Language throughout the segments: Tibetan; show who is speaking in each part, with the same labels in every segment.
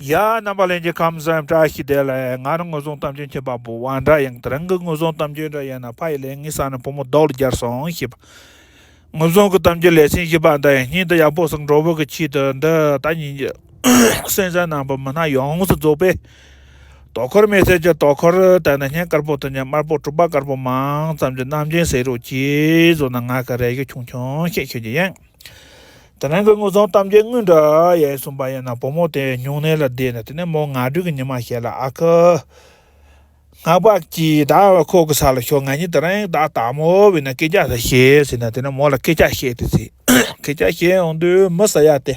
Speaker 1: ཡ། རྣམ་པ་ལན་གྱི་ཁམས་གསུམ་བཀྲ་ཤིས་བདེ་ལེགས་ངར་དངོས་བཟུང་གཏམ་རྒྱུད་མཁྱེན་པ་པོ་བ་འདྲ་ཡང་དེ་རང་གི་དངོས་བཟུང་གཏམ་རྒྱུད་འདྲ་ཡིན་ན་ཕ་ཡི་ལས་ངན་བསགས་ནས་བུ་མོ་རྡོག་རྒྱར་སོང་ཞེས་པ། དངོས་བཟུང་གི་གཏམ་རྒྱུད་ལས་ཚན་བཞི་པ་འདི་ཡང་སྙིང་དུ་ཡག་པོ་བཟུང་གྲོགས་པོ་གི་ཆེད་དུ་འདི་ལྟ་ཉིན་གྱི་སེམས་གསལ་ནང་པའི་མི་སྣ་ཡོངས་སུ་རྫོགས་པའི་དོ་ཁུར་མེད་ཚད་ཀྱི་དོ་ཁུར་དེ་ནི་སྙན་དཀར་པོ་དང་ཉི་དམར་པོ་དྲུག་པ་དཀར་པོ་མང་ཙམ་གྱི་རྣམ་མཁྱེན་ཟེར་རོ་གཅེས་བཟོ་ན་ང་གི་རེ་བཞུགས་ཆུང་ཆུང་ཞིག་ཞུ་རྒྱུ་ཡིན། དེ་རིང་གི་དངུལ་རྫོང་གཏམ་རྒྱུད་དངོས་འདྲ་ཡ་ཡི་གསུངས་པ་ཡིན་ན་བུ་མོ་དེ་སྨྱུང་གནས་ལ་བསྡད་ནས་དེ་ནས་མོ་ང་སྦྲུལ་གྱི་ཉི་མ་ཞིག་ལ་ཨ་ཁུ། ངག་པ་གྱིས་བདག་ལ་ཁོག་གི་ས་ལ་ཤོག་ང་གཉིས་དེ་རིང་བདག་ལྟ་མོ་བས་ན་སྐད་ཆ་ཟེར་ཞེས་ཟེར་ནས་དེ་ནས་མོ་ལ་སྐད་ཆ་བཤད་དེ་ཟེར་སྐད་ཆ་བཤད་འོང་དུས་མི་ཟེར་ཡ་སྟེ།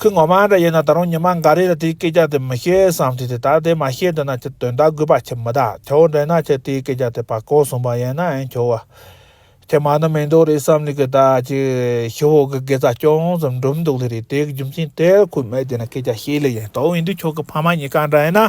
Speaker 1: ཁོས་ངོ་མ་འདྲ་ཡོད་ན་ད་རུང་ཉི་མ་འགའ་རེ་ལ་དེའི་སྐད་ཆ་དེ་མི་བཤད་བསམ་གྱི་དེ་ལྟར་དེ་མ་བཤད་འདོད་ན་ཁྱོད་དོན་དག་དགོས་པ་ཁྱོད་མི་གདའ་ཁྱོད་འདྲེན་ན་ཁྱོད་དེའི་སྐད་ཆ་དེ་བར་སྐོར་གསུངས་པ་ཡིན་ནའང་ཁྱོད་བ། ཁྱོད་མ་ནི་མི་འདུག་རེད་བསམ་ལེ་གི་ད་ཅི། ཤི་བོ་གི་དགེ་རྩ་ཅུང་ཙམ་འགྲུབ་འདུག་ལེ་རེད་དེའི་རྒྱུ་མཚན་དེར་ཁོས་མི་དེ་ན་སྐད་ཆ་བཤད་ལེ་ཡིན་དོགས་འི་འདུག་ཁྱོད་ཀྱི་ཕ་མ་གཉིས་ཀ་འདྲ་ཡིན་ན།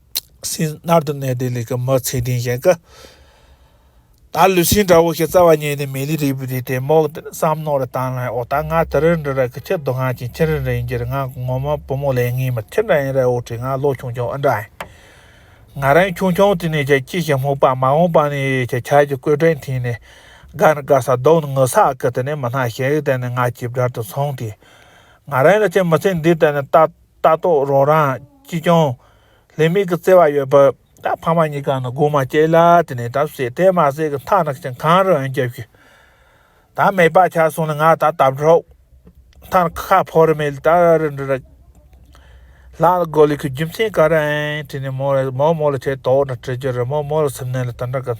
Speaker 1: སྲིན། མནར་དུ་གནས་ཏེ་ལི་ཀ་མ་ཚེ་དིང་བཞེངས་སྐབས། ད་ལུས་སྲིན་འདྲ་བོ་ཞིག་རྩ་བ་ཉེ་ནས་མེ་ལི་རིལ་བུ་དེ་དེ་མོག་དེར་བསམ་མནོ་རུ་བཏང་ན་ཨོ་ད་ང་དེ་རིལ་འདྲ་ར་གི་ཁྱི་རྡོ་ང་ཅིང་ཁྱི་རིལ་རིལ་འགྱེར་ང་གི་ངོ་མ་བུ་མོ་ལས་ངེས་མི་ཁྱི་འདྲ་ཡིན་ར་ཨོ་ཁྲི་ང་ལོ་ཆུང་ཆུང་ཨི་འདྲ་ཨེ། ང་རང་ཆུང་ཆུང་དེ་ནས་ཁྱི་ཁྱི་ཞིག་སྨུག་པ་མ་འོངས་པ་ནས་ཁྱི་ཁྱི་ཞིག་སྐོས་སྒྲེང་འཐེན་ནས་དགའ་ནི་དགའ་ས་སྡོག་ནི་ངུ་ས་ཨ་ཁི་དེ་ནས་མི་སྣ་ཞིག་དེ་ནས་ང་ཁྱི་བརྒྱར་དུ་སོང་དུས། ང་རང་ལ་ཁྱི་མི་ཚེ་འདི་ལྟ་ནས་ལྟ། ལྟ་རྟོག་རོགས་རང་ཅི་བྱུང། ལས་མིག་གི་བརྩེ་བ་ཡོད་པ། ད་ཕ་མ་གཉིས་ཀ་ནི་སྒུག་མ་སྐྱེལ་ལ་དེ་ནས་ད་བསད་དེ་མ་བསད་གི་མཐའ་ན་ཁྱི་གང་རུ་ཨང་རྒྱབ་ཤི། ད་མེད་པ་ཆགས་སོང་ནི་ང་ད་ལྟ་བྲོག་མཐའ་ན་ཁ་ཕོ་རི་མེད་ལྟ་རི་འདྲི་ར། ལག་ལ་སྒོ་ལི་ཁུ་རྒྱུ་མཚན་ག་རུ་ཨང་དེ་ནས་མོ་མོ་ལ་ཁྱེད་དོག་ན་དྲི་རྒྱུ་རི་མོ་མོ་ལ་སིམ་ནལ་ལ་ལྟ་འདྲ་གི།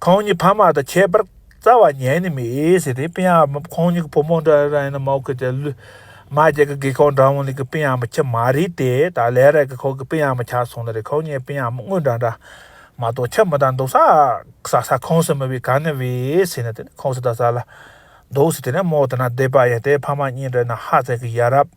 Speaker 1: ཁོང་གཉིས་ཕ་མ་དང་ཁྱད་པར་རྩ་བ་ཉན་ནི་མེད་ཟེར་ཏེ་དཔེ་ཡང་ཁོང་གཉིས་ཀྱི་བུ་མོ་འདྲ་ར་ཡིན་ན་མོག་གི་དེ་ལུས། མ་རྒྱལ་གྱི་རྒས་ཁོག་འདྲ་མོ་ལས་ཀྱི་དཔེ་ཡང་མི་ཁྱབ་མ་རེད་དེ་ད་ལས་ར་གི་ཁོག་གི་དཔེ་ཡང་མི་ཁྱབ་སོང་ན་རེ་ཁོག་གཉིས་དཔེ་ཡང་མི་དངོས་འདྲ་འདྲ་མ་གཏོགས་ཁྱབ་མི་ད་འདུག་ས་ས་ས་ཁོང་སུ་མི་བས་ག་ནི་བས་ཟེར་ནི་དེ་ནི་ཁོང་སུ་ད་ས་ལ་འདུག་ཟེར་དེ་ནི་མོག་དེ་ན་བསྡད་པ་ཡིན་ཏེ་ཕ་མ་གཉིས་འདྲ་ཡིན་ན་ཧ་ཚད་ཀྱི་ཡ་རབས།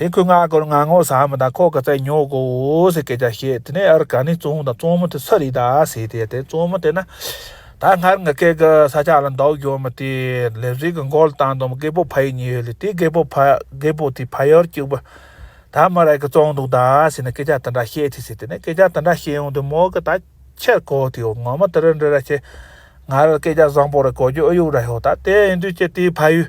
Speaker 1: དེ་སྐོས་ང་ཀོར་ང་ངོ་ས་མི་དང་ཁོག་གི་རྩལ་ཉོག་གོ་ཟེར་སྐད་ཆ་བཤད་དེ་ནས་ཨར་ག་ནས་བཙོང་བོ་དང་བཙོང་མི་དེ་སུ་རེད་ད་ཟེར་དེ་དེ་བཙོང་མི་དེ་ན་ད་སྔར་ང་སྐད་གི་ས་ཆ་ལ་འདོག་ཡོད་མི་དེ་ལས་རིག་གི་འགོ་ལ་བཏང་འདུག་རྒད་པོ་ཕ་ཡིས་ཉོས་ཡོད་ལས་དེ་རྒད་པོ་ཕ་རྒད་པོ་དེ་ཕ་ཡུལ་སྐྱུག་པོ་ད་མི་རེ་གི་བཙོང་འདུག་ད་ཟེར་ནས་སྐད་ཆ་དེ་འདྲ་བཤད་དེ་ཟེར་དེ་ནས་སྐད་ཆ་དེ་འདྲ་བཤད་ཡོང་དུས་མོ་གི་ད་ཕྱིར་གོ་དེ་འོ་ངོ་མི་དེ་རི་འདྲི་ར་ཆེ་ང་རི་སྐད་ཆ་བཟང་པོ་རེ་གོ་རྒྱུ་ཨུ་ཡུག་ར་ཤོག་ད་དེ་ཡིན་དུས་ཀྱི་དེའི་ཕ་ཡུལ།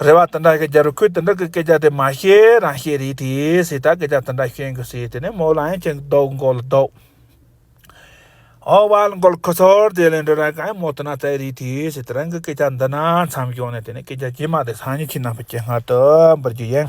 Speaker 1: རེ་བ་དེ་འདྲ་ཞིག་རྒྱབ་རུ་ཁོས་དེ་འདྲ་གི་སྐད་ཆ་དེ་མ་བཤད་རང་བཤད་རེད་དེ་སྲིད་ད་སྐད་ཆ་དེ་འདྲ་བཤད་དགོས་སྲིད་དེ་ནས་མོ་ལ་ཡང་ཅི་འདོག་མགོ་ལ་འདོག་ཨོ་བ་ལ་མགོ་ལ་ཁུ་ཚུར་དེ་ལས་འདྲ་ར་གང་ཡང་མོ་དེ་ན་བཙལ་རེད་དེ་སྲིད་དེ་རང་གི་སྐད་ཆ་འདི་ན་མཚམས་ཞོག་ནས་དེ་ནས་སྐད་ཆ་ཇི་མ་དེ་སང་ཉིན་ཁྱི་རྣམས་པ་ཁྱེད་སྔར་དུ་འབུར་རྒྱུ་ཡིན།